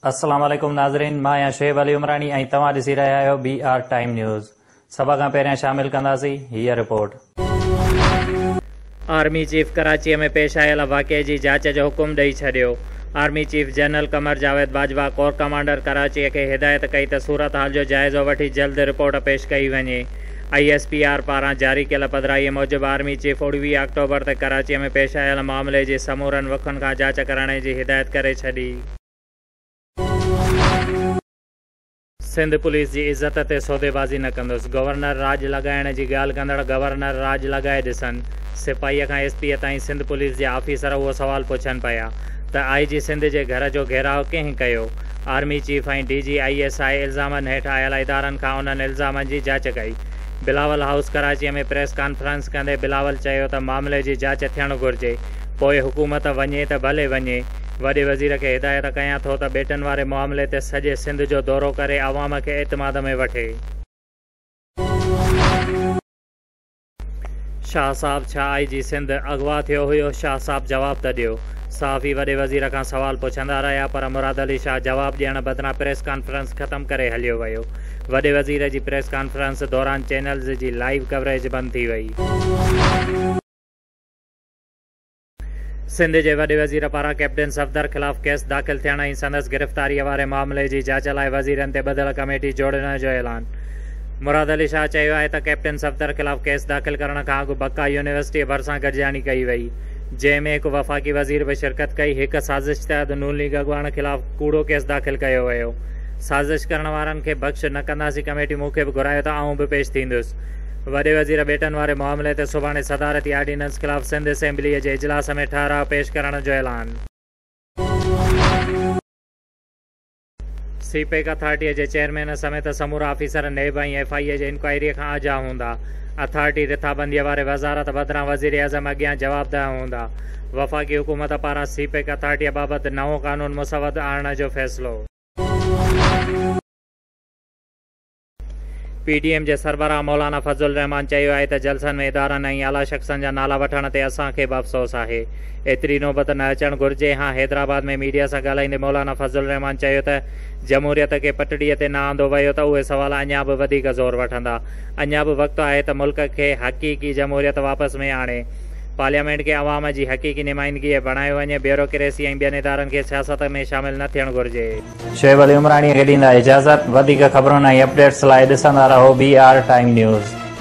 السلام عليڪم ناظرين مان آهيان شعيب علي عمراڻي ۽ توهان ڏسي رهيا آهيو بي آر ٽائيم نيوز سڀ کان پهريان شامل ڪنداسين هيء رپورٽ. آرمي چيف ڪراچيء ۾ پيش آيل واقعي جي جاچ جو حڪم ڏئي ڇڏيو، army chief general Qamar Javed Bajwa corps commander ڪراچيء کي هدايت ڪئي ته صورتحال جو جائزو وٺي جلد رپورٽ پيش ڪئي وڃي، آء ايس پي آر پاران جاري ڪيل پڌرائيء موجب آرمي چيف اوڻويهه آڪٽوبر تي ڪراچيء ۾ پيش آيل معاملي جي سمورن وکن کان جاچ ڪرائڻ جي هدايت ڪري ڇڏي. سنڌ پوليس جي عزت تي سوديبازي نه ڪندس، گورنر راڄ لڳائڻ جي ڳالهه ڪندڙ گورنر راڄ لڳائي ڏسن، سپاهيء کان ايس پيء تائين سنڌ پوليس جي آفيسر اهو سوال پڇن پيا ته آء جي سنڌ جي گهر جو گهيراء ڪنهن ڪيو؟ Army chief ۽ D G I S I الزامن هيٺ آيل ادارن کان انهن الزامن جي جاچ ڪئي. Bilawal house Karachi ۾ press conference ڪندي بلاول چيو ته معاملي جي جاچ ٿيڻ گهرجي پوء حڪومت وڃي ته ڀلي وڃي، وڏي وزير کي هدايت ڪيان ٿو ته ٻيٽن واري معاملي تي سڄي سنڌ جو دورو ڪري عوام کي اعتماد ۾ وٺي. شاهه صاحب ڇا آء جي سنڌ اغوا ٿيو هيو شاهه صاحب جواب ته ڏيو. صحافي وڏي وزير کان سوال پڇندا رهيا پر مراد علي شاهه جواب ڏيڻ بدران پريس ڪانفرنس ختم ڪري هليو ويو وڏي وزير جي پريس ڪانفرنس دوران چينلز جي لائيو ڪوريج بند ٿي وئي. سنڌ جي وڏي وزير پاران ڪئپٽن صفدر خلاف ڪيس داخل ٿيڻ ۽ سندس گرفتاريء واري معاملي جي جاچ لاء وزيرن تي ٻڌل ڪميٽي جوڙڻ جو اعلان مراد علي شاهه چيو آهي ته ڪئپٽن صفدر خلاف ڪيس داخل ڪرڻ کان اڳ بقا يونيورسٽيء ڀرسان گڏجاڻي ڪئي وئي جنهن ۾ هڪ وفاقي وزير به شرڪت ڪئي هڪ سازش تحت نون ليگ اڳواڻ خلاف ڪوڙو ڪيس داخل ڪيو ويو سازش ڪرڻ وارن کي بخش نه ڪنداسين ڪميٽي مون کي به گهرايو ته آئون به پيش ٿيندس وڏي وزير ٻيٽن واري معاملي تي سڀاڻي صدارتي آرڊيننس خلاف سنڌ اسيمبليء جي اجلاس ۾ ٺهراء پيش ڪرڻ جو اعلان. سي پيڪ اٿارٽيء جي چيئرمين سميت سمورا officer NAB ۽ F I A جي انڪوائريء کان آجا هوندا. اٿارٽي رٿابنديء واري وزارت بدران وزيراعظم اڳيان جوابده هوندا. وفاقي حڪومت پاران سي پيڪ اٿارٽيء بابت نئون قانون مسودو آڻڻ جو فيصلو. پي ڊي ايم جي سربراهه مولانا فضل الرحمان چيو آهي ته جلسن ۾ ادارن ۽ اعليٰ شخصن جا نالا وٺڻ تي اسان کي به افسوس آهي. ايتري نوبت نه اچڻ گهرجي ها. حيدرآباد ۾ ميڊيا سان ڳالهائيندي مولانا فضل الرحمان چيو ته جمهوريت کي پٽڙي تي نه آندو ويو ته اهي سوال اڃا به وڌيڪ زور وٺندا. اڃا به وقت آهي ته ملڪ کي حقيقي جمهوريت واپس ۾ آڻي پارليامينٽ کي عوام جي حقيقي نمائندگيء بڻايو وڃي. بيوروڪريسي ۽ ٻين ادارن کي سياست ۾ شامل نه ٿيڻ گهرجي. شعيب علي عمراڻي کي ڏيندا اجازت وڌيڪ خبرن ۽ اپڊيٽس لاء ڏسندا رهو بي آر ٽائيم نيوز.